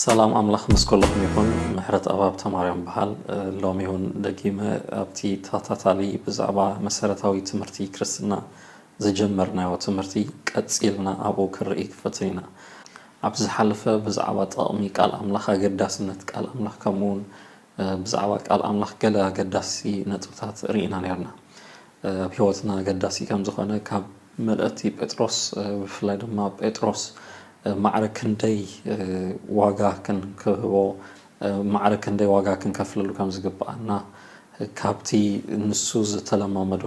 ሰላም ኣምላኽ ምስ ኮለኹም ይኹን ምሕረት ኣባብ ተማርያም በሃል ሎሚ እውን ደጊመ ኣብቲ ተኸታታሊ ብዛዕባ መሰረታዊ ትምህርቲ ክርስትና ዝጀመርናዮ ትምህርቲ ቀጺልና ኣብኡ ክንርኢ ክፈትን ኢና ኣብ ዝሓለፈ ብዛዕባ ጠቕሚ ቃል ኣምላኽ ኣገዳስነት ቃል ኣምላኽ ከምኡውን ብዛዕባ ቃል ኣምላኽ ገለ ኣገዳሲ ነጥብታት ርኢና ነርና ኣብ ሕይወትና ኣገዳሲ ከም ዝኾነ ካብ መልእቲ ጴጥሮስ ብፍላይ ድማ ጴጥሮስ ማዕረ ክንደይ ዋጋ ክንክህቦ ማዕረ ክንደይ ዋጋ ክንከፍለሉ ከም ዝግብኣና ካብቲ ንሱ ዝተለማመዶ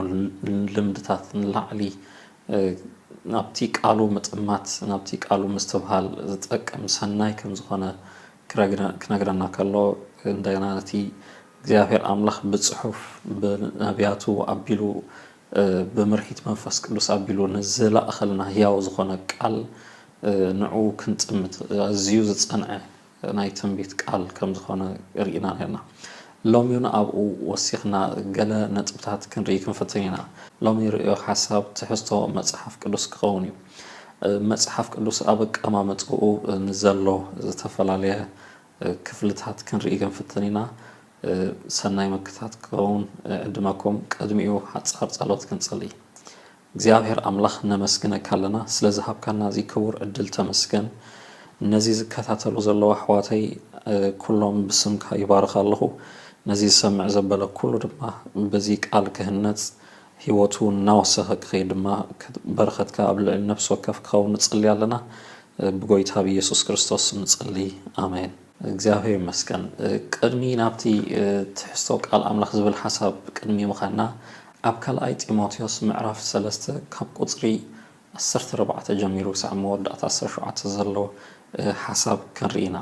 ልምድታት ንላዕሊ ናብቲ ቃሉ ምጥማት ናብቲ ቃሉ ምስትብሃል ዝጠቅም ሰናይ ከም ዝኾነ ክነግረና ከሎ እንደገና ነቲ እግዚኣብሔር ኣምላኽ ብጽሑፍ ብነብያቱ ኣቢሉ ብምርሂት መንፈስ ቅዱስ ኣቢሉ ንዝለኣኸልና ሕያው ዝኾነ ቃል ንዑ ክንጥምት ኣዝዩ ዝጸንዐ ናይ ትንቢት ቃል ከም ዝኾነ ርኢና ኔርና። ሎሚውን ኣብኡ ወሲኽና ገለ ነጥብታት ክንርኢ ክንፍትን ኢና። ሎሚ ርእዮ ሓሳብ ትሕዝቶ መጽሓፍ ቅዱስ ክኸውን እዩ። መጽሓፍ ቅዱስ ኣብ ኣቀማምጥኡ ንዘሎ ዝተፈላለየ ክፍልታት ክንርኢ ክንፍትን ኢና። ሰናይ ምክታት ክኸውን እዕድመኩም። ቅድሚኡ ሓጻር ጸሎት ክንጽሊ። እግዚኣብሔር ኣምላኽ ነመስግነካ ኣለና ስለ ዝሃብካና እዚ ክቡር ዕድል ተመስገን ነዚ ዝከታተሉ ዘለዉ ኣሕዋተይ ኩሎም ብስምካ ይባርኽ ኣለኹ ነዚ ዝሰምዕ ዘበለ ኩሉ ድማ በዚ ቃል ክህነጽ ሂወቱ እናወሰኸ ክኸይድ ድማ በረኸትካ ኣብ ልዕሊ ነፍሲ ወከፍ ክኸውን ንጽሊ ኣለና ብጎይታ ብየሱስ ክርስቶስ ስም ንጽሊ ኣሜን። እግዚኣብሔር ይመስገን ቅድሚ ናብቲ ትሕዝቶ ቃል ኣምላኽ ዝብል ሓሳብ ቅድሚ ምኻድና ኣብ ካልኣይ ጢሞቴዎስ ምዕራፍ ሰለስተ ካብ ቁጽሪ ዓሰርተ ኣርባዕተ ጀሚሩ ክሳዕ መወዳእታ ዓሰርተ ሸውዓተ ዘሎ ሓሳብ ክንርኢ ኢና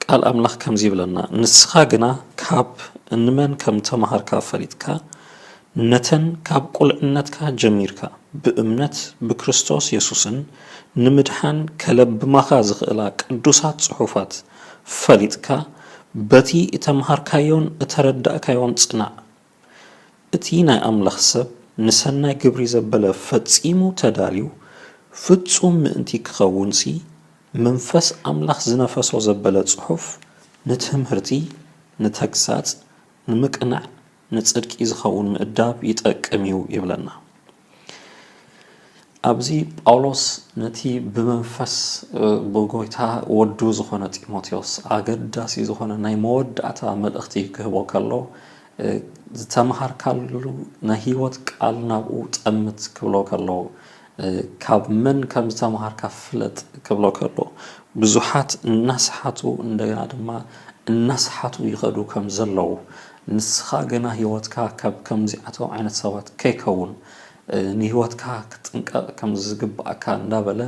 ቃል ኣምላኽ ከምዚ ይብለና ንስኻ ግና ካብ ንመን ከም ተማሃርካ ፈሊጥካ ነተን ካብ ቁልዕነትካ ጀሚርካ ብእምነት ብክርስቶስ የሱስን ንምድሓን ከለብማኻ ዝኽእላ ቅዱሳት ጽሑፋት ፈሊጥካ በቲ እተምሃርካዮን እተረዳእካዮን ጽናዕ። እቲ ናይ ኣምላኽ ሰብ ንሰናይ ግብሪ ዘበለ ፈጺሙ ተዳልዩ ፍጹም ምእንቲ ክኸውንሲ መንፈስ ኣምላኽ ዝነፈሶ ዘበለ ጽሑፍ ንትምህርቲ ንተግሳጽ ንምቅናዕ ንጽድቂ ዝኸውን ምእዳብ ይጠቅም እዩ ይብለና። ኣብዚ ጳውሎስ ነቲ ብመንፈስ ብጎይታ ወዱ ዝኾነ ጢሞቴዎስ ኣገዳሲ ዝኾነ ናይ መወዳእታ መልእኽቲ ክህቦ ከሎ ዝተምሃርካሉ ናይ ህይወት ቃል ናብኡ ጠምት ክብሎ ከሎ ካብ መን ከም ዝተምሃርካ ፍለጥ ክብሎ ከሎ፣ ብዙሓት እናሰሓቱ እንደገና ድማ እናሰሓቱ ይኸዱ ከም ዘለዉ፣ ንስኻ ግና ህይወትካ ካብ ከምዚኣቶም ዓይነት ሰባት ከይከውን ንህይወትካ ክትጥንቀቕ ከም ዝግብኣካ እንዳበለ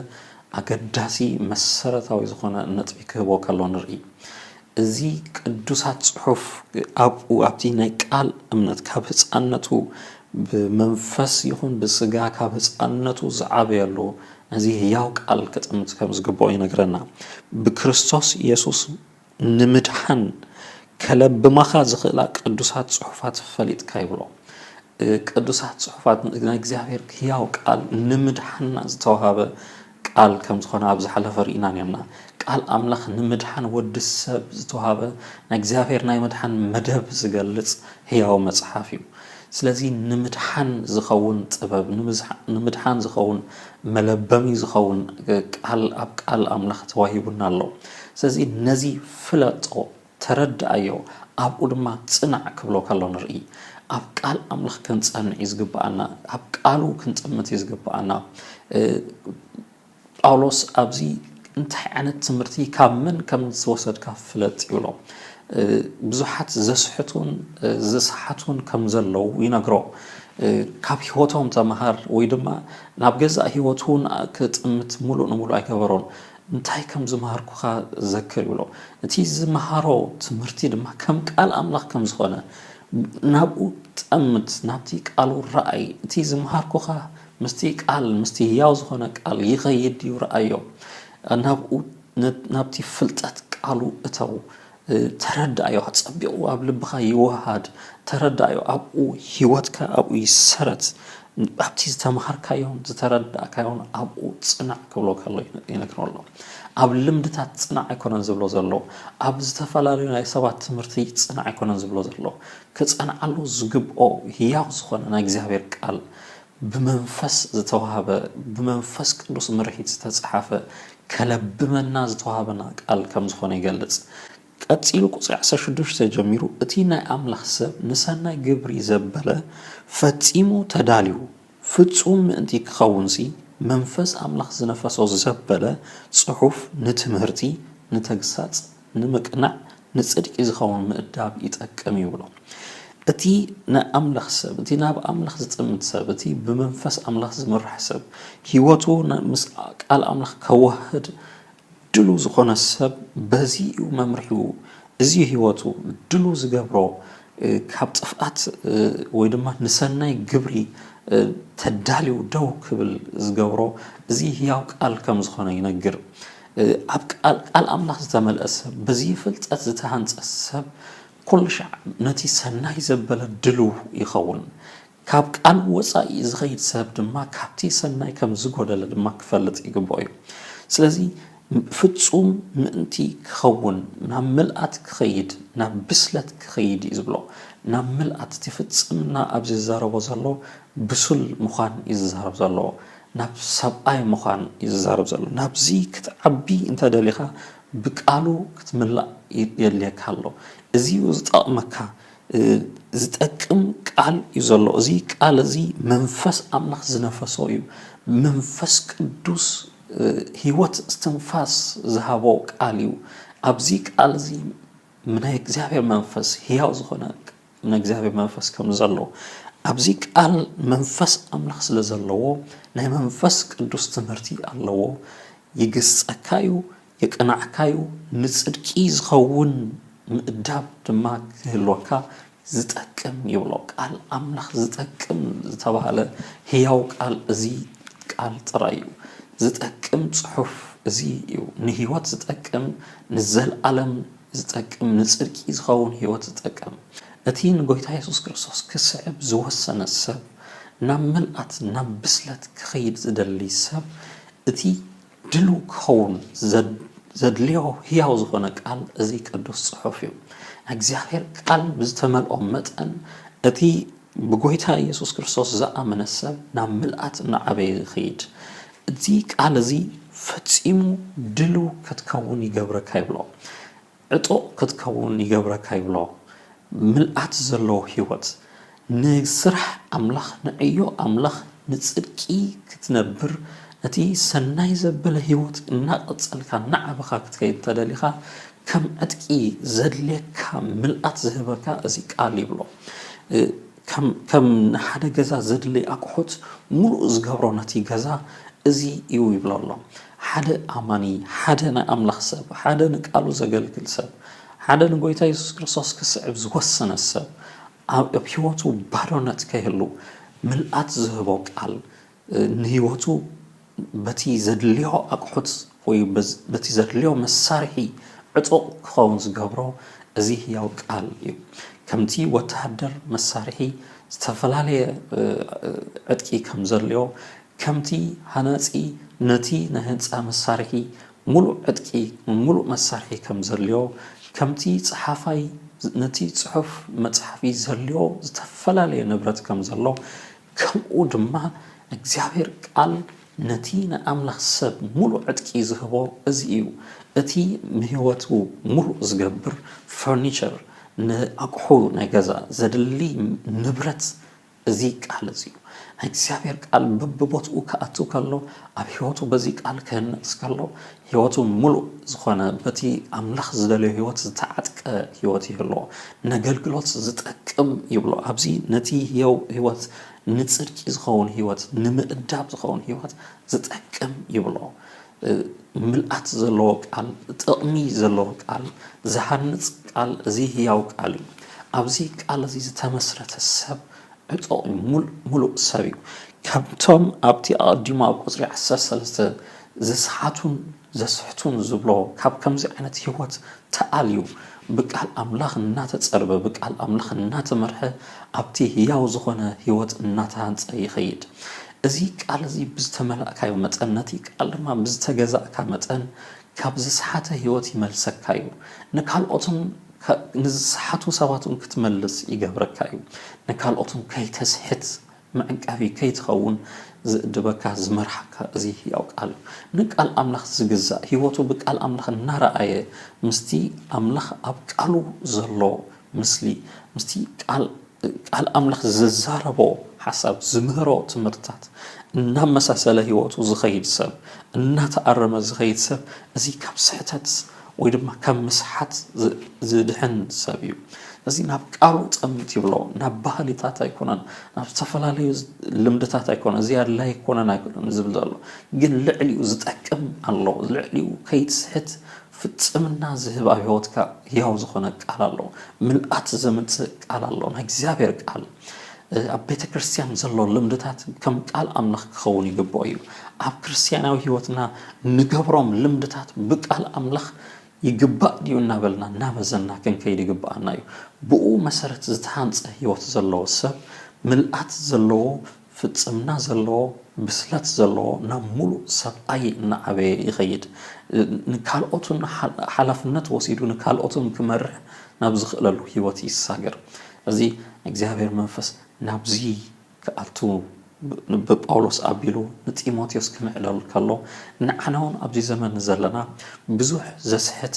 ኣገዳሲ መሰረታዊ ዝኾነ ነጥቢ ክህቦ ከሎ ንርኢ። እዚ ቅዱሳት ጽሑፍ ኣብኡ ኣብቲ ናይ ቃል እምነት ካብ ህጻንነቱ ብመንፈስ ይኹን ብስጋ ካብ ህጻንነቱ ዝዓበየሉ ነዚ ህያው ቃል ክጥምት ከም ዝግብኦ ይነግረና። ብክርስቶስ የሱስ ንምድሓን ከለብማኻ ዝኽእላ ቅዱሳት ጽሑፋት ፈሊጥካ ይብሎ። ቅዱሳት ጽሑፋት ናይ እግዚኣብሔር ህያው ቃል ንምድሓንና ዝተዋህበ ቃል ከም ዝኾነ ኣብ ዝሓለፈ ርኢና ኔርና። ቃል ኣምላኽ ንምድሓን ወዲ ሰብ ዝተዋህበ ናይ እግዚኣብሔር ናይ ምድሓን መደብ ዝገልጽ ሕያው መጽሓፍ እዩ። ስለዚ ንምድሓን ዝኸውን ጥበብ፣ ንምድሓን ዝኸውን መለበሚ ዝኸውን ቃል ኣብ ቃል ኣምላኽ ተዋሂቡና ኣሎ። ስለዚ ነዚ ፍለጦ። ተረድኣዮ ኣብኡ ድማ ጽናዕ ክብሎ ከሎ ንርኢ። ኣብ ቃል ኣምላኽ ክንጸንዕ እዩ ዝግብኣና። ኣብ ቃሉ ክንጥምት እዩ ዝግብኣና። ጳውሎስ ኣብዚ እንታይ ዓይነት ትምህርቲ ካብ መን ከም ዝወሰድካ ፍለጥ ይብሎ። ብዙሓት ዘስሕቱን ዝሰሓቱን ከም ዘለዉ ይነግሮ። ካብ ህይወቶም ተምሃር ወይ ድማ ናብ ገዛእ ህይወቱ ክጥምት ሙሉእ ንሙሉእ ኣይገበሮን። እንታይ ከም ዝመሃርኩኻ ዘክር ይብሎ። እቲ ዝመሃሮ ትምህርቲ ድማ ከም ቃል ኣምላኽ ከም ዝኾነ ናብኡ ጠምት፣ ናብቲ ቃሉ ረኣይ። እቲ ዝመሃርኩኻ ምስቲ ቃል ምስቲ ህያው ዝኾነ ቃል ይኸይድ ድዩ ረኣዮ። ናብኡ ናብቲ ፍልጠት ቃሉ እተው። ተረዳኣዮ ኣጸቢቑ ኣብ ልብኻ ይወሃድ ተረዳኣዮ ኣብኡ ሂወትካ ኣብኡ ይሰረት ኣብቲ ዝተማሃርካዮን ዝተረዳእካዮን ኣብኡ ጽናዕ ክብሎ ከሎ ይነግሮ ኣሎ ኣብ ልምድታት ጽናዕ ኣይኮነን ዝብሎ ዘሎ ኣብ ዝተፈላለዩ ናይ ሰባት ትምህርቲ ጽናዕ ኣይኮነን ዝብሎ ዘሎ ክጸንዓሉ ዝግብኦ ህያው ዝኾነ ናይ እግዚኣብሔር ቃል ብመንፈስ ዝተዋህበ ብመንፈስ ቅዱስ ምርሒት ዝተጻሓፈ ከለብመና ዝተዋህበና ቃል ከም ዝኾነ ይገልጽ። ቀጺሉ ቁጽሪ ዓሰርተ ሽዱሽተ ጀሚሩ እቲ ናይ ኣምላኽ ሰብ ንሰናይ ግብሪ ዘበለ ፈጺሙ ተዳልዩ ፍጹም ምእንቲ ክኸውንሲ መንፈስ ኣምላኽ ዝነፈሶ ዘበለ ጽሑፍ ንትምህርቲ ንተግሳጽ ንምቅናዕ ንጽድቂ ዝኸውን ምእዳብ ይጠቅም እዩ ብሎ። እቲ ናይ ኣምላኽ ሰብ፣ እቲ ናብ ኣምላኽ ዝጥምት ሰብ፣ እቲ ብመንፈስ ኣምላኽ ዝምራሕ ሰብ፣ ህይወቱ ምስ ቃል ኣምላኽ ከዋህህድ ድሉው ዝኾነ ሰብ በዚ እዩ መምርሒኡ፣ እዚ እዩ ህይወቱ ድሉው ዝገብሮ ካብ ጥፍኣት ወይ ድማ ንሰናይ ግብሪ ተዳልዩ ደው ክብል ዝገብሮ እዚ ህያው ቃል ከም ዝኾነ ይነግር። ኣብ ቃል ቃል ኣምላኽ ዝተመልአ ሰብ፣ በዚ ፍልጠት ዝተሃንጸ ሰብ ኩሉ ሻዕ ነቲ ሰናይ ዘበለ ድሉው ይኸውን። ካብ ቃል ወጻኢ ዝኸይድ ሰብ ድማ ካብቲ ሰናይ ከም ዝጎደለ ድማ ክፈልጥ ይግብኦ እዩ። ስለዚ ፍጹም ምእንቲ ክኸውን ናብ ምልኣት ክኸይድ ናብ ብስለት ክኸይድ እዩ ዝብሎ። ናብ ምልኣት እቲ ፍጽምና ኣብዚ ዝዛረቦ ዘሎ ብሱል ምዃን እዩ ዝዛረብ ዘሎ። ናብ ሰብኣይ ምዃን እዩ ዝዛረብ ዘሎ ናብዚ ክትዓቢ እንተ ደሊኻ ብቃሉ ክትምላእ የድልየካ ኣሎ እዚ እዩ ዝጠቕመካ ዝጠቅም ቃል እዩ ዘሎ እዚ ቃል እዚ መንፈስ ኣምላኽ ዝነፈሶ እዩ መንፈስ ቅዱስ ህይወት እስትንፋስ ዝሃቦ ቃል እዩ ኣብዚ ቃል እዚ ናይ እግዚኣብሔር መንፈስ ሕያው ዝኾነ ናይ እግዚኣብሔር መንፈስ ከም ዘሎ ኣብዚ ቃል መንፈስ ኣምላኽ ስለ ዘለዎ ናይ መንፈስ ቅዱስ ትምህርቲ ኣለዎ ይግስጸካዩ የቅናዕካዩ ንጽድቂ ዝኸውን ምእዳብ ድማ ክህልወካ ዝጠቅም ይብሎ ቃል ኣምላኽ ዝጠቅም ዝተባህለ ህያው ቃል እዚ ቃል ጥራይ እዩ ዝጠቅም ጽሑፍ እዚ እዩ ንህይወት ዝጠቅም ንዘልኣለም ዝጠቅም ንጽድቂ ዝኸውን ሕይወት ዝጠቅም እቲ ንጐይታ የሱስ ክርስቶስ ክስዕብ ዝወሰነ ሰብ ናብ ምልኣት ናብ ብስለት ክኸይድ ዝደሊ ሰብ እቲ ድልው ክኸውን ዘድልዮ ሕያው ዝኾነ ቃል እዚ ቅዱስ ጽሑፍ እዩ ናይ እግዚኣብሔር ቃል ብዝተመልኦ መጠን እቲ ብጐይታ ኢየሱስ ክርስቶስ ዝኣመነ ሰብ ናብ ምልኣት እናዓበየ ይኸይድ፣ እዚ ቃል እዚ ፈጺሙ ድልው ከትከውን ይገብረካ ይብሎ፣ ዕጡቕ ከትከውን ይገብረካ ይብሎ፣ ምልኣት ዘለዎ ሕይወት፣ ንሥራሕ ኣምላኽ፣ ንዕዮ ኣምላኽ፣ ንጽድቂ ክትነብር፣ ነቲ ሠናይ ዘበለ ሕይወት እናቐጸልካ እናዓበኻ ክትከይድ እንተደሊኻ፣ ከም ዕጥቂ ዘድልየካ ምልኣት ዝህበካ እዚ ቃል ይብሎ። ከም ንሓደ ገዛ ዘድልይ ኣቑሑት ምሉእ ዝገብሮ ነቲ ገዛ እዚ እዩ ይብሎ ኣሎ። ሓደ ኣማኒ፣ ሓደ ናይ ኣምላኽ ሰብ፣ ሓደ ንቃሉ ዘገልግል ሰብ፣ ሓደ ንጎይታ የሱስ ክርስቶስ ክስዕብ ዝወሰነ ሰብ ኣብ ህይወቱ ባዶነት ከይህሉ ምልኣት ዝህቦ ቃል ንህይወቱ በቲ ዘድልዮ ኣቕሑት ወይ በቲ ዘድልዮ መሳርሒ ዕጡቕ ክኸውን ዝገብሮ እዚ ህያው ቃል እዩ። ከምቲ ወተሃደር መሳርሒ ዝተፈላለየ ዕጥቂ ከም ዘድልዮ፣ ከምቲ ሃናጺ ነቲ ናይ ህንጻ መሳርሒ ምሉእ ዕጥቂ ወይ ምሉእ መሳርሒ ከም ዘድልዮ፣ ከምቲ ጸሓፋይ ነቲ ጽሑፍ መጽሓፊ ዘድልዮ ዝተፈላለየ ንብረት ከም ዘሎ፣ ከምኡ ድማ እግዚኣብሔር ቃል ነቲ ናይ ኣምላኽ ሰብ ምሉእ ዕጥቂ ዝህቦ እዚ እዩ። እቲ ንሕይወቱ ምሉእ ዝገብር ፈርኒቸር ንኣቁሑ ናይ ገዛ ዘድሊ ንብረት እዚ ቃል እዚ እዩ። ናይ እግዚኣብሔር ቃል በብቦትኡ ክኣቱ ከሎ ኣብ ሕይወቱ በዚ ቃል ክህነጽ ከሎ ሕይወቱ ምሉእ ዝኾነ በቲ ኣምላኽ ዝደለዮ ሕይወት ዝተዓጥቀ ሕይወት ይህልዎ። ነገልግሎት ዝጠቅም ይብሎ። ኣብዚ ነቲ ሕየው ሕይወት ንጽድቂ ዝኸውን ሕይወት ንምእዳብ ዝኸውን ሕይወት ዝጠቅም ይብሎ። ምልኣት ዘለዎ ቃል ጥቕሚ ዘለዎ ቃል ዝሃንጽ ቃል እዚ ሕያው ቃል እዩ። ኣብዚ ቃል እዚ ዝተመስረተ ሰብ ዕጡቕ እዩ ሙሉእ ሙሉእ ሰብ እዩ ከምቶም ኣብቲ ኣቐዲሙ ኣብ ቁጽሪ ዓሰርተ ሰለስተ ዝሰሓቱን ዘስሕቱን ዝብሎ ካብ ከምዚ ዓይነት ሂወት ተኣልዩ ብቃል ኣምላኽ እናተጸርበ ብቃል ኣምላኽ እናተመርሐ ኣብቲ ህያው ዝኾነ ሂወት እናተሃንጸ ይኸይድ እዚ ቃል እዚ ብዝተመላእካዮ መጠን ነቲ ቃል ድማ ብዝተገዛእካ መጠን ካብ ዝሰሓተ ህይወት ይመልሰካ እዩ። ንካልኦትን ንዝሰሓቱ ሰባትን ክትመልስ ይገብረካ እዩ። ንካልኦትን ከይተስሕት መዕቀቢ ከይትኸውን ዝእድበካ ዝመርሓካ እዚ ህያው ቃል እዩ። ንቃል ኣምላኽ ዝግዛእ ህይወቱ ብቃል ኣምላኽ እናረኣየ ምስቲ ኣምላኽ ኣብ ቃሉ ዘሎ ምስሊ ምስቲ ቃል ቃል ኣምላኽ ዝዛረቦ ሓሳብ፣ ዝምህሮ ትምህርትታት እናመሳሰለ ህይወቱ ዝኸይድ ሰብ፣ እናተኣረመ ዝኸይድ ሰብ፣ እዚ ካብ ስሕተት ወይ ድማ ካብ ምስሓት ዝድሕን ሰብ እዩ። እዚ ናብ ቃሉ ጸምት ይብሎ፣ ናብ ባህሊታት ኣይኮነን፣ ናብ ዝተፈላለዩ ልምድታት ኣይኮነን፣ እዚ ኣድላይ ኣይኮነን ኣይኮነን ዝብል ዘሎ፣ ግን ልዕሊኡ ዝጠቅም ኣሎ፣ ልዕሊኡ ከይትስሕት ፍጽምና ዝህብ ኣብ ሕይወትካ ሕያው ዝኾነ ቃል ኣሎ። ምልኣት ዘምጽእ ቃል ኣሎ፣ ናይ እግዚኣብሔር ቃል። ኣብ ቤተ ክርስቲያን ዘሎ ልምድታት ከም ቃል ኣምላኽ ክኸውን ይግብኦ እዩ። ኣብ ክርስቲያናዊ ሕይወትና ንገብሮም ልምድታት ብቃል ኣምላኽ ይግባእ ድዩ እናበልና እናመዘና ክንከይድ ይግብኣና እዩ። ብእኡ መሠረት ዝተሃንጸ ሕይወት ዘለዎ ሰብ ምልኣት ዘለዎ ፍጽምና ዘለዎ ብስለት ዘለዎ ናብ ሙሉእ ሰብኣይ እናዓበየ ይኸይድ። ንካልኦትን ሓላፍነት ወሲዱ ንካልኦትን ክመርሕ ናብ ዝኽእለሉ ህይወት ይሳገር። እዚ ናይ እግዚኣብሔር መንፈስ ናብዚ ክኣቱ ብጳውሎስ ኣቢሉ ንጢሞቴዎስ ክምዕደሉ ከሎ ንዓናውን ኣብዚ ዘመን ዘለና ብዙሕ ዘስሕት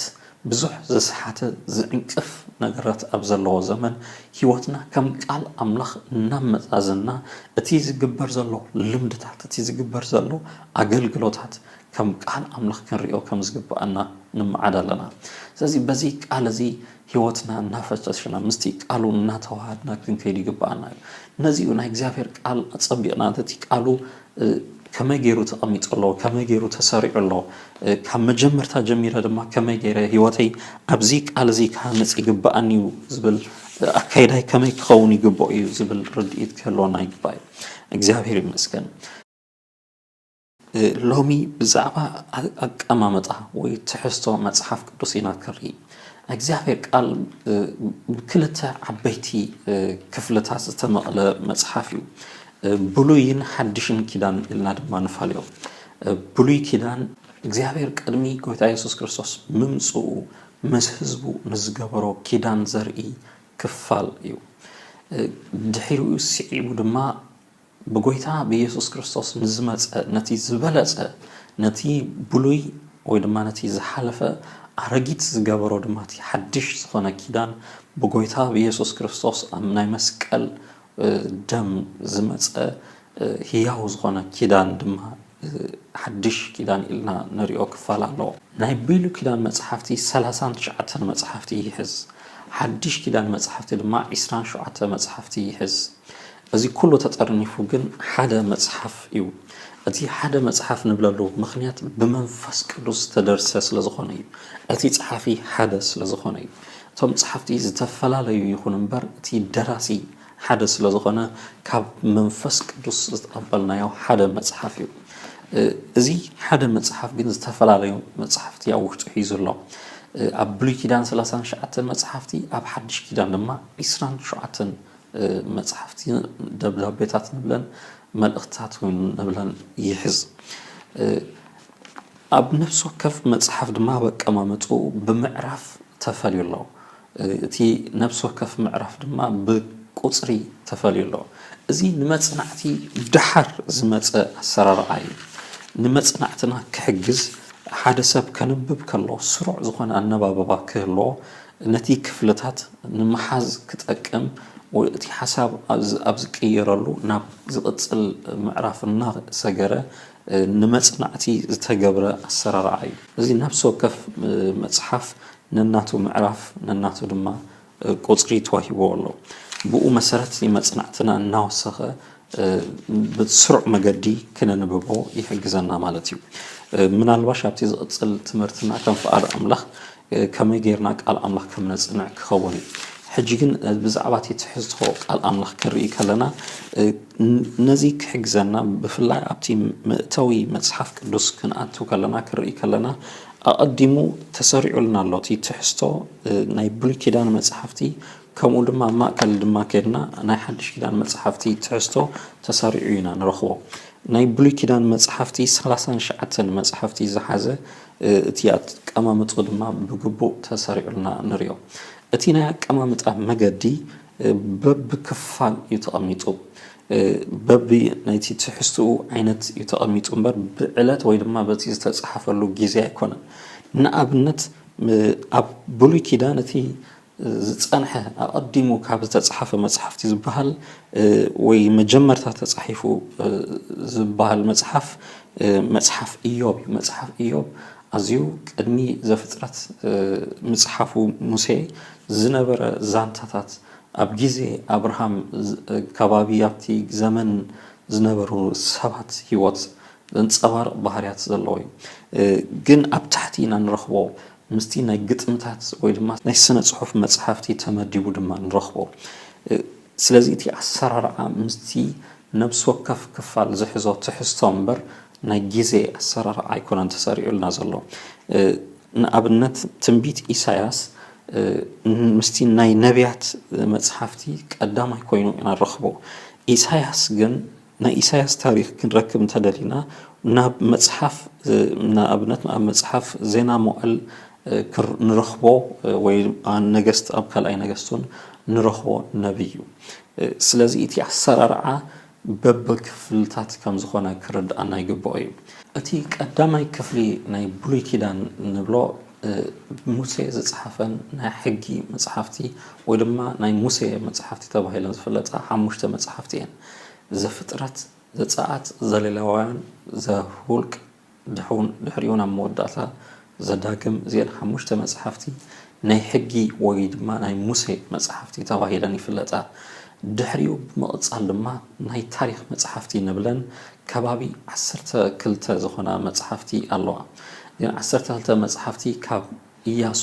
ብዙሕ ዝሰሓተ ዝዕንቅፍ ነገራት ኣብ ዘለዎ ዘመን ህይወትና ከም ቃል ኣምላኽ እናመዛዘና እቲ ዝግበር ዘሎ ልምድታት እቲ ዝግበር ዘሎ ኣገልግሎታት ከም ቃል ኣምላኽ ክንሪኦ ከም ዝግብኣና ንመዓድ ኣለና ስለዚ በዚ ቃል እዚ ህይወትና እናፈተሽና ምስቲ ቃሉ እናተዋሃድና ክንከይድ ይግብኣና እዩ ነዚ እዩ ናይ እግዚኣብሔር ቃል ኣጸቢቕና እቲ ቃሉ ከመይ ጌሩ ተቐሚጡ ኣሎ፣ ከመይ ጌሩ ተሰሪዑ ኣሎ፣ ካብ መጀመርታ ጀሚረ ድማ ከመይ ጌረ ህይወተይ ኣብዚ ቃል እዚ ክሃንጽ ይግብኣኒ እዩ ዝብል ኣካይዳይ ከመይ ክኸውን ይግብኦ እዩ ዝብል ርድኢት ክህልወና ይግባእ እዩ። እግዚኣብሔር ይመስገን። ሎሚ ብዛዕባ ኣቀማምጣ ወይ ትሕዝቶ መጽሓፍ ቅዱስ ኢና ክርኢ። ናይ እግዚኣብሔር ቃል ብክልተ ዓበይቲ ክፍልታት ዝተመቕለ መጽሓፍ እዩ። ብሉይን ሓድሽን ኪዳን ኢልና ድማ ንፈልዮ። ብሉይ ኪዳን እግዚኣብሔር ቅድሚ ጎይታ የሱስ ክርስቶስ ምምጽኡ ምስ ህዝቡ ንዝገበሮ ኪዳን ዘርኢ ክፋል እዩ። ድሒሩ ስዒቡ ድማ ብጎይታ ብየሱስ ክርስቶስ ንዝመጸ ነቲ ዝበለጸ ነቲ ብሉይ ወይ ድማ ነቲ ዝሓለፈ ኣረጊት ዝገበሮ ድማ እቲ ሓድሽ ዝኾነ ኪዳን ብጎይታ ብየሱስ ክርስቶስ ኣብ ናይ መስቀል ደም ዝመጸ ህያው ዝኾነ ኪዳን ድማ ሓድሽ ኪዳን ኢልና ንሪኦ ክፋል ኣሎ። ናይ ብሉ ኪዳን መጽሓፍቲ ሰላሳን ትሽዓተን መጽሓፍቲ ይሕዝ። ሓድሽ ኪዳን መጽሓፍቲ ድማ ዕስራን ሸውዓተ መጽሓፍቲ ይሕዝ። እዚ ኩሉ ተጠርኒፉ ግን ሓደ መጽሓፍ እዩ። እቲ ሓደ መጽሓፍ ንብለሉ ምኽንያት ብመንፈስ ቅዱስ ዝተደርሰ ስለዝኾነ እዩ። እቲ ጸሓፊ ሓደ ስለዝኾነ እዩ። እቶም ጸሓፍቲ ዝተፈላለዩ ይኹኑ እምበር እቲ ደራሲ ሓደ ስለ ዝኾነ ካብ መንፈስ ቅዱስ ዝተቐበልናዮ ሓደ መጽሓፍ እዩ። እዚ ሓደ መጽሓፍ ግን ዝተፈላለዩ መጽሓፍቲ ኣብ ውሽጡ ሒዙ ኣሎ። ኣብ ብሉይ ኪዳን ሰላሳን ሸዓተን መጽሓፍቲ ኣብ ሓድሽ ኪዳን ድማ ዒስራን ሸውዓተን መጽሓፍቲ ደብዳቤታት ንብለን መልእኽትታት ንብለን ይሕዝ። ኣብ ነፍሲ ወከፍ መጽሓፍ ድማ ኣብ ኣቀማምጥኡ ብምዕራፍ ተፈልዩ ኣሎ። እቲ ነፍሲ ወከፍ ምዕራፍ ድማ ብቁጽሪ ተፈልዩ ኣሎ። እዚ ንመጽናዕቲ ደሓር ዝመጸ ኣሰራርዓ እዩ። ንመጽናዕትና ክሕግዝ ሓደ ሰብ ከንብብ ከሎ ስሩዕ ዝኾነ ኣነባብባ ክህልዎ ነቲ ክፍልታት ንምሓዝ ክጠቅም ወይ እቲ ሓሳብ ኣብ ዝቅየረሉ ናብ ዝቅጽል ምዕራፍ እናሰገረ ንመጽናዕቲ ዝተገብረ ኣሰራርዓ እዩ። እዚ ነፍሲ ወከፍ መጽሓፍ ነናቱ ምዕራፍ ነናቱ ድማ ቁጽሪ ተዋሂብዎ ኣሎ። ብኡ መሰረት እዩ መጽናዕትና እናወሰኸ ብስሩዕ መገዲ ክነንብቦ ይሕግዘና ማለት እዩ። ምናልባሽ ኣብቲ ዝቕጽል ትምህርትና ከም ፍቓድ ኣምላኽ ከመይ ጌርና ቃል ኣምላኽ ከም ነጽንዕ ክኸውን እዩ። ሕጂ ግን ብዛዕባ እቲ ትሕዝቶ ቃል ኣምላኽ ክንርኢ ከለና ነዚ ክሕግዘና ብፍላይ ኣብቲ መእተዊ መጽሓፍ ቅዱስ ክንኣቱ ከለና ክንርኢ ከለና ኣቐዲሙ ተሰሪዑልና ኣሎ እቲ ትሕዝቶ ናይ ብሉይ ኪዳን መጽሓፍቲ ከምኡ ድማ ኣብ ማእከል ድማ ኬድና ናይ ሓድሽ ኪዳን መጽሓፍቲ ትሕዝቶ ተሰሪዑ ኢና ንረኽቦ። ናይ ብሉይ ኪዳን መጽሓፍቲ ሰላሳን ሸዓተን መጽሓፍቲ ዝሓዘ እቲ ኣቀማምጥኡ ድማ ብግቡእ ተሰሪዑልና ንሪኦ። እቲ ናይ ኣቀማምጣ መገዲ በቢ ክፋል እዩ ተቐሚጡ። በቢ ናይቲ ትሕዝትኡ ዓይነት እዩ ተቐሚጡ እምበር ብዕለት ወይ ድማ በቲ ዝተፅሓፈሉ ግዜ ኣይኮነን። ንኣብነት ኣብ ብሉይ ኪዳን እቲ ዝጸንሐ ኣቐዲሙ ካብ ዝተጻሕፈ መጽሓፍቲ ዝበሃል ወይ መጀመርታ ተጻሒፉ ዝበሃል መጽሓፍ መጽሓፍ እዮብ እዩ። መጽሓፍ እዮብ ኣዝዩ ቅድሚ ዘፍጥረት ምጽሓፉ ሙሴ ዝነበረ ዛንታታት ኣብ ግዜ ኣብርሃም ከባቢ ኣብቲ ዘመን ዝነበሩ ሰባት ህይወት ዘንጸባርቕ ባህርያት ዘለዎ እዩ። ግን ኣብ ታሕቲ ኢና ንረኽቦ። ምስቲ ናይ ግጥምታት ወይ ድማ ናይ ስነ ጽሑፍ መጽሓፍቲ ተመዲቡ ድማ ንረኽቦ። ስለዚ እቲ ኣሰራርዓ ምስቲ ነብሲ ወከፍ ክፋል ዝሕዞ ትሕዝቶ እምበር ናይ ግዜ ኣሰራርዓ ኣይኮነን ተሰሪዑልና ዘሎ። ንኣብነት ትንቢት ኢሳያስ ምስቲ ናይ ነብያት መጽሓፍቲ ቀዳማይ ኮይኑ ኢና ንረኽቦ። ኢሳያስ ግን ናይ ኢሳያስ ታሪኽ ክንረክብ እንተደሊና ናብ መጽሓፍ ንኣብነት ኣብ መጽሓፍ ዜና መዋእል ንረኽቦ ወይ ነገስት ኣብ ካልኣይ ነገስቱን ንረኽቦ ነብይ እዩ። ስለዚ እቲ ኣሰራርዓ በብ ክፍልታት ከም ዝኾነ ክርድኣና ይግብኦ እዩ። እቲ ቀዳማይ ክፍሊ ናይ ብሉይ ኪዳን ንብሎ ሙሴ ዝጸሓፈን ናይ ሕጊ መጽሓፍቲ ወይ ድማ ናይ ሙሴ መጽሓፍቲ ተባሂለን ዝፍለጣ ሓሙሽተ መጽሓፍቲ እየን። ዘፍጥረት፣ ዘጸኣት፣ ዘሌዋውያን፣ ዘሁልቅ፣ ድሑን ድሕሪኡን ኣብ መወዳእታ ዘዳግም እዚኤን ሓሙሽተ መጽሓፍቲ ናይ ሕጊ ወይ ድማ ናይ ሙሴ መጽሓፍቲ ተባሂለን ይፍለጣ። ድሕሪኡ ብምቕጻል ድማ ናይ ታሪኽ መጽሓፍቲ ንብለን ከባቢ ዓሰርተ ክልተ ዝኾና መጽሓፍቲ ኣለዋ። እዚኤን ዓሰርተ ክልተ መጽሓፍቲ ካብ ኢያሱ፣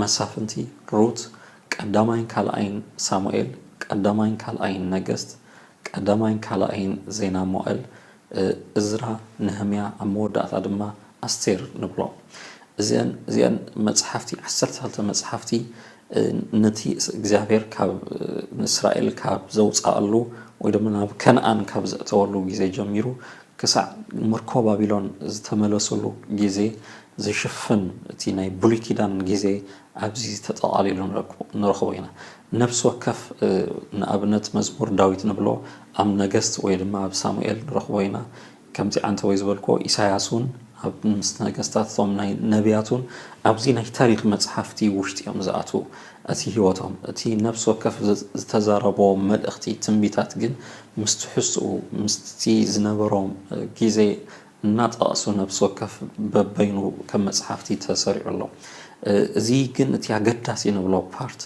መሳፍንቲ፣ ሩት፣ ቀዳማይን ካልኣይን ሳሙኤል፣ ቀዳማይን ካልኣይን ነገስት፣ ቀዳማይን ካልኣይን ዜና መዋእል፣ እዝራ፣ ነህምያ፣ ኣብ መወዳእታ ድማ ኣስቴር ንብሎ። እዘን እዚኣን መጽሓፍቲ ዓሰርተ ክልተ መጽሓፍቲ ነቲ እግዚኣብሔር ካብ ንእስራኤል ካብ ዘውጽኣሉ ወይ ድማ ናብ ከነኣን ካብ ዘእተወሉ ግዜ ጀሚሩ ክሳዕ ምርኮ ባቢሎን ዝተመለሱሉ ጊዜ ዝሽፍን እቲ ናይ ብሉይ ኪዳን ጊዜ ኣብዚ ተጠቓሊሉ ንረኽቦ ኢና። ነፍሲ ወከፍ ንኣብነት መዝሙር ዳዊት ንብሎ ኣብ ነገስት ወይ ድማ ኣብ ሳሙኤል ንረኽቦ ኢና። ከምቲ ዓንተቦይ ዝበልክዎ ኢሳያስ ውን ኣብ ምስ ነገስታት እቶም ናይ ነብያት ውን ኣብዚ ናይ ታሪኽ መጽሓፍቲ ውሽጢ እዮም ዝኣትዉ እቲ ህይወቶም። እቲ ነፍሲ ወከፍ ዝተዛረቦ መልእኽቲ ትንቢታት ግን ምስ ትሕዝትኡ ምስቲ ዝነበሮም ግዜ እናጠቐሱ ነብሲ ወከፍ በበይኑ ከም መጽሓፍቲ ተሰሪዑ ኣሎ። እዚ ግን እቲ ኣገዳሲ ንብሎ ፓርት፣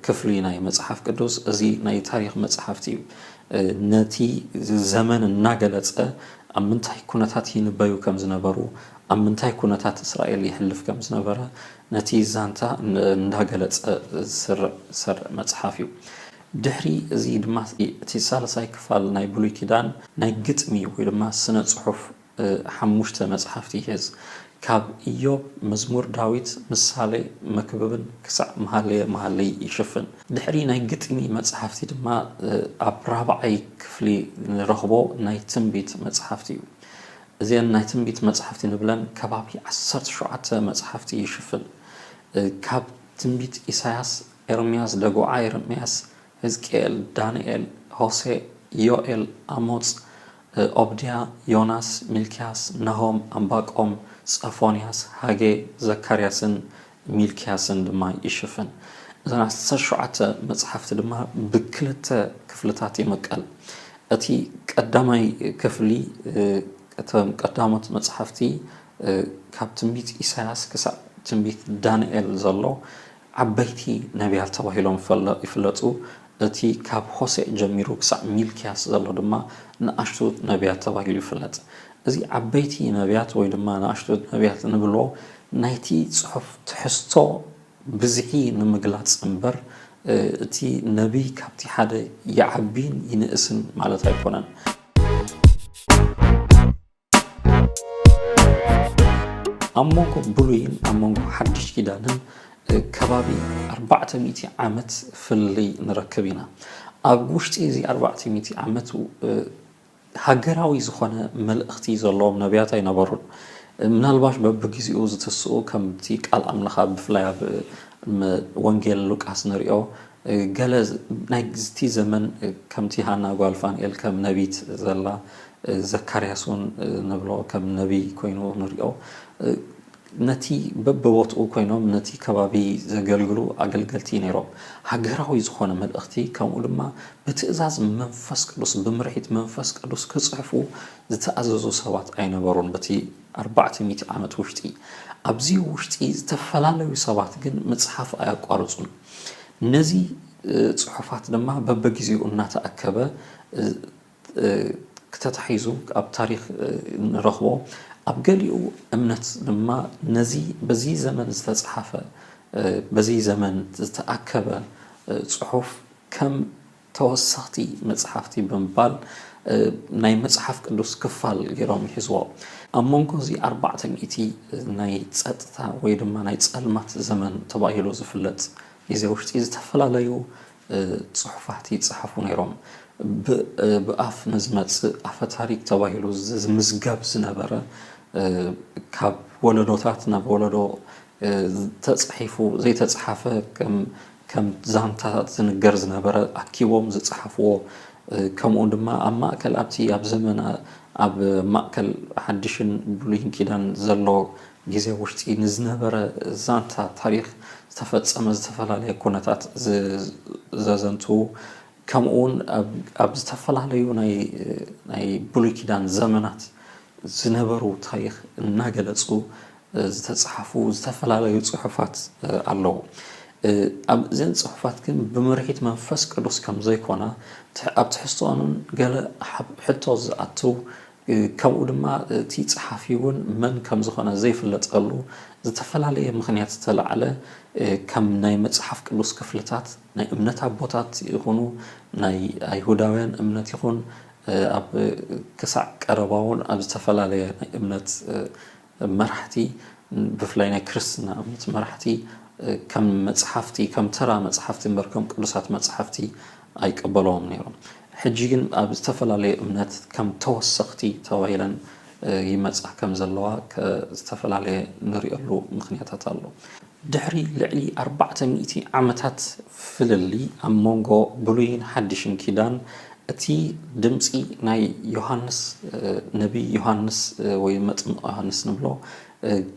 ክፍሊ፣ ናይ መጽሓፍ ቅዱስ እዚ ናይ ታሪኽ መጽሓፍቲ እዩ። ነቲ ዘመን እናገለጸ ኣብ ምንታይ ኩነታት ይንበዩ ከም ዝነበሩ፣ ኣብ ምንታይ ኩነታት እስራኤል የሕልፍ ከም ዝነበረ ነቲ ዛንታ እንዳገለጸ ዝስርዕ ዝሰርዕ መጽሓፍ እዩ። ድሕሪ እዚ ድማ እቲ ሳልሳይ ክፋል ናይ ብሉይ ኪዳን ናይ ግጥሚ ወይ ድማ ስነ ጽሑፍ ሓሙሽተ መጽሓፍቲ ይሕዝ። ካብ እዮብ፣ መዝሙር ዳዊት፣ ምሳሌ፣ መክብብን ክሳዕ መሃልየ መሃልይ ይሽፍን። ድሕሪ ናይ ግጥሚ መጽሓፍቲ ድማ ኣብ ራብዓይ ክፍሊ ንረኽቦ ናይ ትንቢት መጽሓፍቲ እዩ። እዘን ናይ ትንቢት መጽሓፍቲ ንብለን ከባቢ ዓሰርተ ሸውዓተ መጽሓፍቲ ይሽፍን። ካብ ትንቢት ኢሳያስ፣ ኤርምያስ ደጉዓ የረምያስ ህዝቅኤል ዳንኤል ሆሴእ ዮኤል ኣሞጽ ኦብድያ ዮናስ ሚልክያስ ናሆም ኣንባቆም ጸፎንያስ ሃጌ ዘካርያስን ሚልክያስን ድማ ይሽፍን። እዘን ዓሰርተ ሸውዓተ መጽሓፍቲ ድማ ብክልተ ክፍልታት ይምቀል። እቲ ቀዳማይ ክፍሊ እቶም ቀዳሞት መጽሓፍቲ ካብ ትንቢት ኢሳያስ ክሳዕ ትንቢት ዳንኤል ዘሎ ዓበይቲ ነብያት ተባሂሎም ይፍለጡ፣ እቲ ካብ ሆሴዕ ጀሚሩ ክሳዕ ሚልክያስ ዘሎ ድማ ንኣሽቱ ነብያት ተባሂሉ ይፍለጥ። እዚ ዓበይቲ ነብያት ወይ ድማ ንኣሽቱ ነብያት እንብሎ ናይቲ ጽሑፍ ትሕዝቶ ብዝሒ ንምግላጽ እምበር እቲ ነብይ ካብቲ ሓደ ይዓቢን ይንእስን ማለት ኣይኮነን። ኣብ መንጎ ብሉይን ኣብ መንጎ ሓድሽ ኪዳንን ከባቢ ኣርባዕተ ሚእቲ ዓመት ፍልልይ ንረክብ ኢና ኣብ ውሽጢ እዚ ኣርባዕተ ሚእቲ ዓመት ሃገራዊ ዝኾነ መልእኽቲ ዘለዎም ነቢያት ኣይነበሩን ምናልባሽ በብግዜኡ ዝተስኡ ከምቲ ቃል ኣምላኻ ብፍላይ ኣብ ወንጌል ሉቃስ ንሪኦ ገለ ናይቲ ዘመን ከምቲ ሃና ጓል ፋንኤል ከም ነቢት ዘላ ዘካርያስ ውን ንብሎ ከም ነቢይ ኮይኑ ንሪኦ ነቲ በበቦትኡ ኮይኖም ነቲ ከባቢ ዘገልግሉ ኣገልገልቲ ነይሮም ሃገራዊ ዝኾነ መልእኽቲ ከምኡ ድማ ብትእዛዝ መንፈስ ቅዱስ ብምርሒት መንፈስ ቅዱስ ክጽሕፉ ዝተኣዘዙ ሰባት ኣይነበሩን በቲ ኣርባዕተ ሚእቲ ዓመት ውሽጢ ኣብዚ ውሽጢ ዝተፈላለዩ ሰባት ግን ምጽሓፍ ኣያቋርጹን ነዚ ጽሑፋት ድማ በበጊዜኡ እናተኣከበ ተታሒዙ ኣብ ታሪኽ ንረኽቦ። ኣብ ገሊኡ እምነት ድማ ነዚ በዚ ዘመን ዝተጽሓፈ በዚ ዘመን ዝተኣከበ ጽሑፍ ከም ተወሰኽቲ መጽሓፍቲ ብምባል ናይ መጽሓፍ ቅዱስ ክፋል ገይሮም ይሕዝዎ። ኣብ መንጎ እዚ ኣርባዕተ ሚእቲ ናይ ጸጥታ ወይ ድማ ናይ ጸልማት ዘመን ተባሂሉ ዝፍለጥ ግዜ ውሽጢ ዝተፈላለዩ ጽሑፋት ይጸሓፉ ነይሮም። ብ ብኣፍ ንዝመጽእ ኣፈ ታሪክ ተባሂሉ ዝምዝገብ ዝነበረ ካብ ወለዶታት ናብ ወለዶ ተጻሒፉ ዘይተጽሓፈ ከም ከም ዛንታታት ዝንገር ዝነበረ ኣኪቦም ዝጸሓፍዎ ከምኡ ድማ ኣብ ማእከል ኣብቲ ኣብ ዘመን ኣብ ማእከል ሓድሽን ብሉይን ኪዳን ዘሎ ግዜ ውሽጢ ንዝነበረ ዛንታ ታሪኽ ዝተፈጸመ ዝተፈላለየ ኩነታት ዘዘንትዉ ከምኡውን ኣብ ዝተፈላለዩ ናይ ናይ ብሉይ ኪዳን ዘመናት ዝነበሩ ታሪኽ እናገለጹ ዝተጻሕፉ ዝተፈላለዩ ጽሑፋት ኣለዉ። ኣብ እዘን ጽሑፋት ግን ብምርሒት መንፈስ ቅዱስ ከም ዘይኮና ኣብ ትሕዝቶኦንን ገለ ሓብ ሕቶ ዝኣትው ከምኡ ድማ እቲ ጸሓፊ እውን መን ከም ዝኾነ ዘይፍለጠሉ ዝተፈላለየ ምኽንያት ዝተላዕለ ከም ናይ መጽሓፍ ቅዱስ ክፍልታት ናይ እምነት ኣቦታት ይኹኑ ናይ ኣይሁዳውያን እምነት ይኹን ኣብ ክሳዕ ቀረባ እውን ኣብ ዝተፈላለየ ናይ እምነት መራሕቲ ብፍላይ ናይ ክርስትና እምነት መራሕቲ ከም መጽሓፍቲ ከም ተራ መጽሓፍቲ እምበር ከም ቅዱሳት መጽሓፍቲ ኣይቀበለዎም ነይሮም። ሕጂ ግን ኣብ ዝተፈላለዩ እምነት ከም ተወሰኽቲ ተባሂለን ይመጻ ከም ዘለዋ ዝተፈላለየ ንሪኦሉ ምኽንያታት ኣሎ። ድሕሪ ልዕሊ ኣርባዕተ ሚእቲ ዓመታት ፍልልይ ኣብ መንጎ ብሉይን ሓድሽን ኪዳን እቲ ድምጺ ናይ ዮሃንስ ነብይ ዮሃንስ ወይ መጥምቅ ዮሃንስ ንብሎ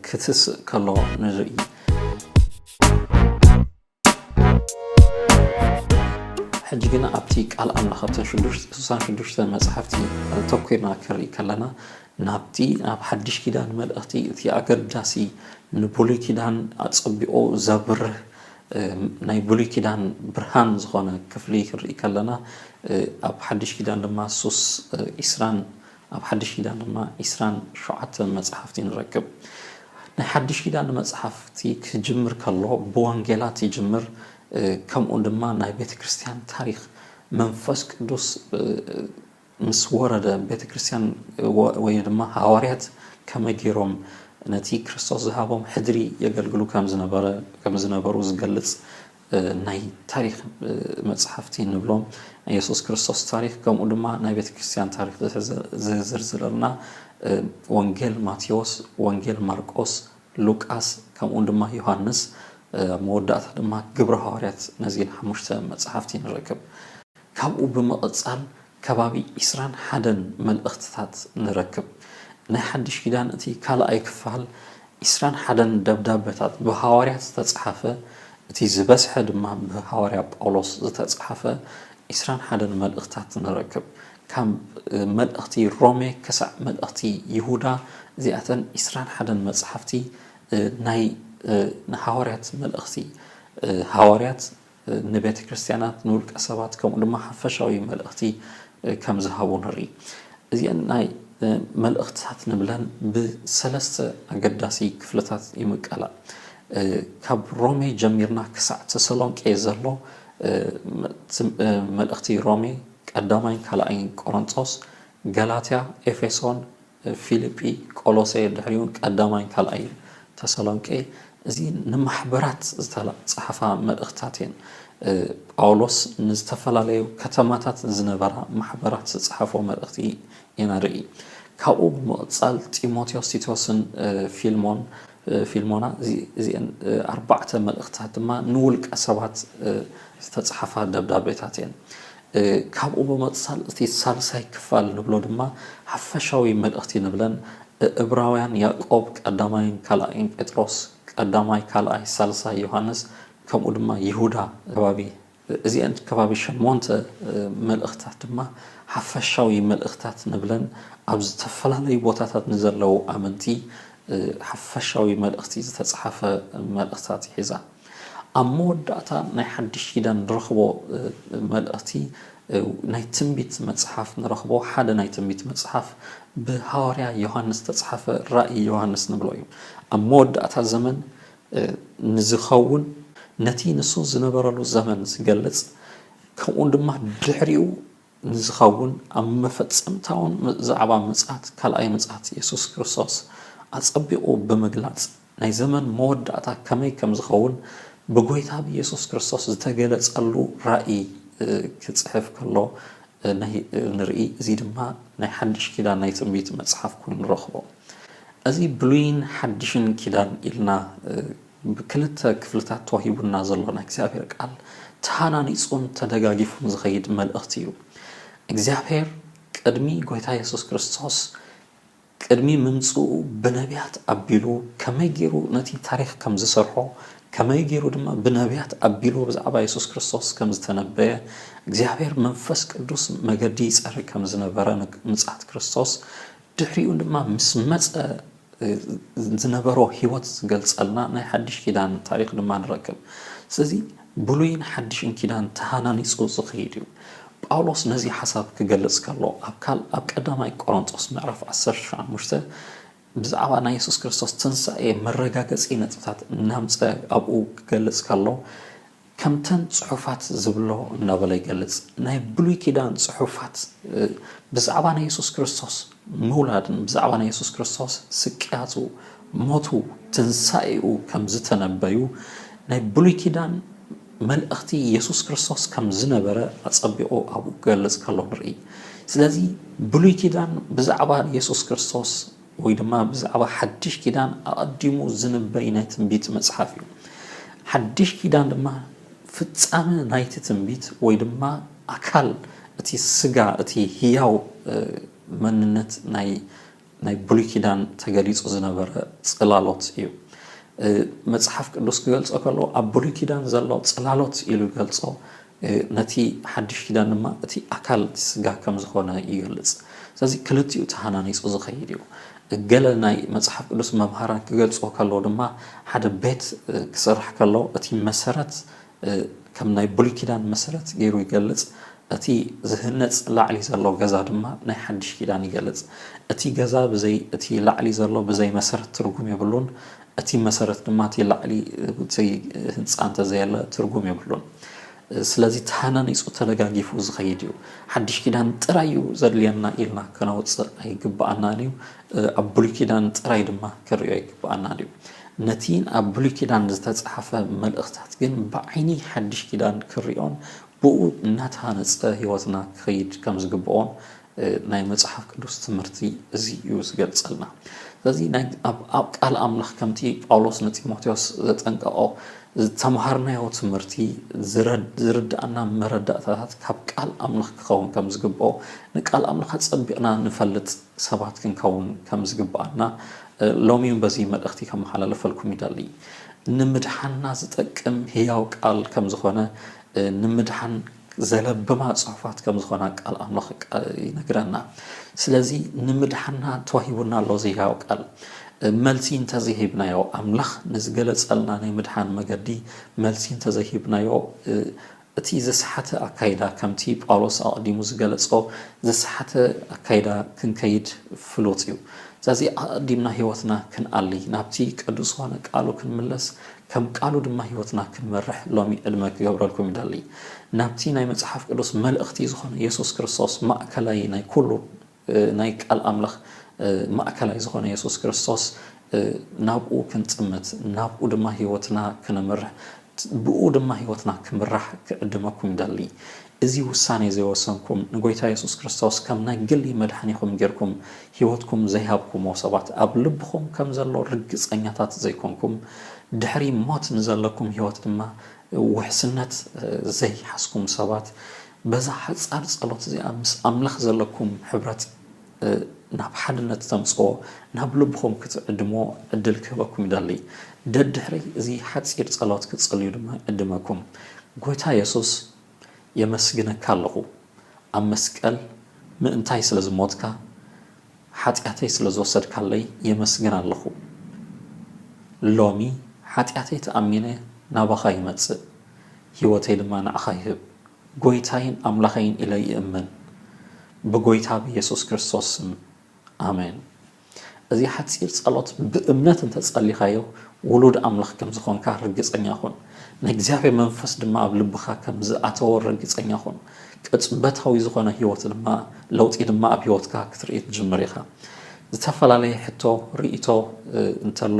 ክትስእ ከሎ ንርኢ። ሕጂ ግና ኣብቲ ቃል ኣምላኽ ኣብተን ሽዱሽተ ስሳን ሽዱሽተ መጻሕፍቲ ኣተኲርና ክንርኢ ከለና ናብቲ ኣብ ሓድሽ ኪዳን መልእኽቲ እቲ ኣገዳሲ ንብሉይ ኪዳን ኣጸቢቑ ዘብርህ ናይ ብሉይ ኪዳን ብርሃን ዝኾነ ክፍሊ ክንርኢ ከለና ኣብ ሓድሽ ኪዳን ድማ ሱስ ዒስራን ኣብ ሓድሽ ኪዳን ድማ ዒስራን ሸውዓተ መጽሓፍቲ ንረክብ። ናይ ሓድሽ ኪዳን መጽሓፍቲ ክጅምር ከሎ ብወንጌላት ይጅምር ከምኡ ድማ ናይ ቤተ ክርስቲያን ታሪኽ መንፈስ ቅዱስ ምስ ወረደ ቤተክርስትያን ወይ ድማ ሃዋርያት ከመይ ገይሮም ነቲ ክርስቶስ ዝሃቦም ሕድሪ የገልግሉ ከም ዝነበሩ ዝገልጽ ናይ ታሪኽ መጽሓፍቲ እንብሎም ናይ የሱስ ክርስቶስ ታሪኽ ከምኡ ድማ ናይ ቤተክርስትያን ታሪኽ ዝዝርዝረልና ወንጌል ማቴዎስ፣ ወንጌል ማርቆስ፣ ሉቃስ ከምኡ ድማ ዮሃንስ ኣብ መወዳእታ ድማ ግብሪ ሃዋርያት ነዚን ሓሙሽተ መጽሓፍቲ ንረክብ። ካብኡ ብምቕጻል ከባቢ ዕስራን ሓደን መልእኽትታት ንረክብ። ናይ ሓድሽ ኪዳን እቲ ካልኣይ ክፋል ዕስራን ሓደን ደብዳበታት ብሃዋርያት ዝተጽሓፈ እቲ ዝበዝሐ ድማ ብሃዋርያ ጳውሎስ ዝተጽሓፈ ዕስራን ሓደን መልእኽትታት ንረክብ። ካብ መልእኽቲ ሮሜ ክሳዕ መልእኽቲ ይሁዳ እዚኣተን ዕስራን ሓደን መጽሓፍቲ ናይ ንሃዋርያት መልእኽቲ ሃዋርያት ንቤተ ክርስቲያናት፣ ንውልቀ ሰባት ከምኡ ድማ ሓፈሻዊ መልእኽቲ ከም ዝሃቡ ንርኢ። እዚኤን ናይ መልእኽትታት ንብለን ብሰለስተ ኣገዳሲ ክፍልታት ይምቀላ። ካብ ሮሜ ጀሚርና ክሳዕ ተሰሎንቄ ዘሎ መልእኽቲ ሮሜ፣ ቀዳማይን ካልኣይን ቆሮንጦስ፣ ገላትያ፣ ኤፌሶን፣ ፊልጲ፣ ቆሎሴ፣ ድሕሪኡን ቀዳማይን ካልኣይን ተሰሎንቄ፣ እዚ ንማሕበራት ዝተጸሓፋ መልእኽትታት እየን። ጳውሎስ ንዝተፈላለዩ ከተማታት ዝነበራ ማሕበራት ዝጸሓፎ መልእኽቲ ኢና ንርኢ። ካብኡ ብምቕጻል ጢሞቴዎስ፣ ቲቶስን ፊልሞን፣ ፊልሞና፣ እዚኤን ኣርባዕተ መልእኽትታት ድማ ንውልቀ ሰባት ዝተጸሓፋ ደብዳቤታት እየን። ካብኡ ብምቕጻል እቲ ሳልሳይ ክፋል ንብሎ ድማ ሓፈሻዊ መልእኽቲ ንብለን እብራውያን ያእቆብ ቀዳማይን ካልኣይን ጴጥሮስ ቀዳማይ ካልኣይ ሳልሳይ ዮሃንስ ከምኡ ድማ ይሁዳ ከባቢ እዚኤን ከባቢ ሸሞንተ መልእኽታት ድማ ሓፈሻዊ መልእኽታት ንብለን ኣብ ዝተፈላለዩ ቦታታት ንዘለዉ ኣመንቲ ሓፈሻዊ መልእኽቲ ዝተጽሓፈ መልእኽታት ይሕዛ። ኣብ መወዳእታ ናይ ሓድሽ ኪዳን ንረኽቦ መልእኽቲ ናይ ትንቢት መጽሓፍ ንረኽቦ ሓደ ናይ ትንቢት መጽሓፍ ብሃዋርያ ዮሃንስ ዝተጽሓፈ ራእይ ዮሃንስ ንብሎ እዩ ኣብ መወዳእታ ዘመን ንዝኸውን ነቲ ንሱ ዝነበረሉ ዘመን ዝገልጽ ከምኡ ድማ ድሕሪኡ ንዝኸውን ኣብ መፈጸምታውን ዛዕባ ምጽኣት ካልኣይ ምጽኣት የሱስ ክርስቶስ ኣጸቢቑ ብምግላጽ ናይ ዘመን መወዳእታ ከመይ ከም ዝኸውን ብጐይታ ብየሱስ ክርስቶስ ዝተገለጸሉ ራእይ ክጽሕፍ ከሎ ንርኢ፣ እዚ ድማ ናይ ሓድሽ ኪዳን ናይ ትንቢት መጽሓፍ ኮይኑ ንረኽቦ። እዚ ብሉይን ሓድሽን ኪዳን ኢልና ብክልተ ክፍልታት ተዋሂቡና ዘሎ ናይ እግዚኣብሔር ቃል ተሃናኒጹን ተደጋጊፉን ዝኸይድ መልእኽቲ እዩ። እግዚኣብሔር ቅድሚ ጐይታ የሱስ ክርስቶስ ቅድሚ ምምጽኡ ብነብያት ኣቢሉ ከመይ ገይሩ ነቲ ታሪኽ ከም ዝሰርሖ፣ ከመይ ገይሩ ድማ ብነብያት ኣቢሉ ብዛዕባ የሱስ ክርስቶስ ከም ዝተነበየ፣ እግዚኣብሔር መንፈስ ቅዱስ መገዲ ይጸርግ ከም ዝነበረ ንምጽኣት ክርስቶስ ድሕሪኡ ድማ ምስ መጸ ዝነበሮ ሕይወት ዝገልጸልና ናይ ሓድሽ ኪዳን ታሪኽ ድማ ንረክብ። ስለዚ። ብሉይን ሓድሽን ኪዳን ተሃናኒጹ ዝኸይድ እዩ። ጳውሎስ ነዚ ሓሳብ ክገልጽ ከሎ ኣብ ካል ኣብ ቀዳማይ ቆሮንጦስ ምዕራፍ ዓሰርተ ሸምሽተ ብዛዕባ ናይ የሱስ ክርስቶስ ትንሳኤ መረጋገጺ ነጥብታት እናምጸ ኣብኡ ክገልጽ ከሎ ከምተን ጽሑፋት ዝብሎ እናበለ ይገልጽ ናይ ብሉይ ኪዳን ጽሑፋት ብዛዕባ ናይ የሱስ ክርስቶስ ምውላድን ብዛዕባ ናይ የሱስ ክርስቶስ ስቅያቱ፣ ሞቱ፣ ትንሳኤኡ ከም ዝተነበዩ ናይ ብሉይ ኪዳን መልእኽቲ የሱስ ክርስቶስ ከም ዝነበረ ኣጸቢቑ ኣብኡ ክገልጽ ከሎ ንርኢ። ስለዚ ብሉይ ኪዳን ብዛዕባ የሱስ ክርስቶስ ወይ ድማ ብዛዕባ ሓድሽ ኪዳን ኣቐዲሙ ዝንበይ ናይ ትንቢት መጽሓፍ እዩ። ሓድሽ ኪዳን ድማ ፍጻመ ናይቲ ትንቢት ወይ ድማ ኣካል እቲ ስጋ እቲ ህያው መንነት ናይ ናይ ብሉይ ኪዳን ተገሊጹ ዝነበረ ጽላሎት እዩ። መጽሓፍ ቅዱስ ክገልጾ ከሎ ኣብ ብሉይ ኪዳን ዘሎ ጽላሎት ኢሉ ይገልጾ ነቲ ሓድሽ ኪዳን ድማ እቲ ኣካል እቲ ስጋ ከም ዝኾነ ይገልጽ። ስለዚ ክልቲኡ ተሃናኒጹ ዝኸይድ እዩ። ገለ ናይ መጽሓፍ ቅዱስ መምሃራን ክገልጾ ከሎ ድማ ሓደ ቤት ክስራሕ ከሎ እቲ መሰረት ከም ናይ ብሉይ ኪዳን መሰረት ገይሩ ይገልጽ፣ እቲ ዝህነጽ ላዕሊ ዘሎ ገዛ ድማ ናይ ሓድሽ ኪዳን ይገልጽ። እቲ ገዛ ብዘይ እቲ ላዕሊ ዘሎ ብዘይ መሰረት ትርጉም የብሉን፣ እቲ መሰረት ድማ እቲ ላዕሊ እቲ ህንጻ እንተ ዘየለ ትርጉም የብሉን። ስለዚ ተሃናኒጹ ተደጋጊፉ ዝኸይድ እዩ። ሓድሽ ኪዳን ጥራይ እዩ ዘድልየና ኢልና ከነውጽእ ኣይግብኣናን እዩ። ኣብ ብሉይ ኪዳን ጥራይ ድማ ክንርእዮ ኣይግብኣና ድዩ? ነቲ ኣብ ብሉይ ኪዳን ዝተጻሕፈ መልእኽታት ግን ብዓይኒ ሓድሽ ኪዳን ክንርእዮን ብእኡ እናተሃነጸ ህይወትና ክኸይድ ከም ዝግብኦን ናይ መጽሓፍ ቅዱስ ትምህርቲ እዚ እዩ ዝገልጸልና። ስለዚ ኣብ ቃል ኣምላኽ ከምቲ ጳውሎስ ንጢሞቴዎስ ዘጠንቀቖ ዝተምሃርናዮ ትምህርቲ ዝርድኣና መረዳእታታት ካብ ቃል ኣምላኽ ክኸውን ከም ዝግብኦ ንቃል ኣምላኽ ኣጸቢቕና ንፈልጥ ሰባት ክንከውን ከም ዝግብኣና ሎሚውን በዚ መልእኽቲ ከመሓላልፈልኩም ይደሊ። ንምድሓንና ዝጠቅም ህያው ቃል ከም ዝኾነ ንምድሓን ዘለብማ ጽሑፋት ከም ዝኾና ቃል ኣምላኽ ይነግረና። ስለዚ ንምድሓንና ተዋሂቡና ኣሎ እዚ ህያው ቃል። መልሲ እንተዘይሂብናዮ ኣምላኽ ንዝገለጸልና ናይ ምድሓን መገዲ መልሲ እንተዘይሂብናዮ እቲ ዝሰሓተ ኣካይዳ ከምቲ ጳውሎስ ኣቐዲሙ ዝገለጾ ዝሰሓተ ኣካይዳ ክንከይድ ፍሉጥ እዩ። ስለዚ ኣቐዲምና ሕይወትና ክንኣሊ፣ ናብቲ ቅዱስ ዝኾነ ቃሉ ክንምለስ፣ ከም ቃሉ ድማ ሕይወትና ክንመርሕ ሎሚ ዕድመ ክገብረልኩም ይደሊ። ናብቲ ናይ መጽሓፍ ቅዱስ መልእኽቲ ዝኾነ የሱስ ክርስቶስ ማእከላይ ናይ ኩሉ ናይ ቃል ኣምላኽ ማእከላይ ዝኾነ የሱስ ክርስቶስ ናብኡ ክንጥምት ናብኡ ድማ ህይወትና ክነምርሕ ብእኡ ድማ ህይወትና ክምራሕ ክዕድመኩም ይደሊ። እዚ ውሳኔ እዚ ወሰንኩም ንጎይታ የሱስ ክርስቶስ ከም ናይ ግሊ መድሓኒኹም ጌርኩም ህይወትኩም ዘይሃብኩሞ ሰባት ኣብ ልብኹም ከም ዘሎ ርግጸኛታት ዘይኮንኩም ድሕሪ ሞት ንዘለኩም ህይወት ድማ ውሕስነት ዘይሓዝኩም ሰባት በዛ ሓጻር ጸሎት እዚኣ ምስ ኣምላኽ ዘለኩም ሕብረት ናብ ሓድነት ተምጽኦ ናብ ልብኹም ክትዕድምዎ ዕድል ክህበኩም ይደሊ። ደድሕሪ እዚ ሓጺር ጸሎት ክትጽልዩ ድማ ይዕድመኩም። ጎይታ የሱስ የመስግነካ ኣለኹ ኣብ መስቀል ምእንታይ ስለ ዝሞትካ ሓጢኣተይ ስለ ዝወሰድካለይ የመስግን ኣለኹ። ሎሚ ሓጢኣተይ ተኣሚነ ናባኻ ይመጽእ። ሕይወተይ ድማ ንኣኻ ይህብ። ጐይታይን ኣምላኸይን ኢለ ይእምን። ብጐይታ ብየሱስ ክርስቶስ ስም፣ ኣሜን። እዚ ሓጺር ጸሎት ብእምነት እንተ ጸሊኻዮ፣ ውሉድ ኣምላኽ ከም ዝዀንካ ርግጸኛ ኹን። ናይ እግዚኣብሔር መንፈስ ድማ ኣብ ልብኻ ከም ዝኣተወ ርግጸኛ ኹን። ቅጽበታዊ ዝዀነ ሕይወት ድማ ለውጢ ድማ ኣብ ሕይወትካ ክትርኢ ትጅምር ኢኻ። ዝተፈላለየ ሕቶ፣ ርእይቶ፣ እንተሎ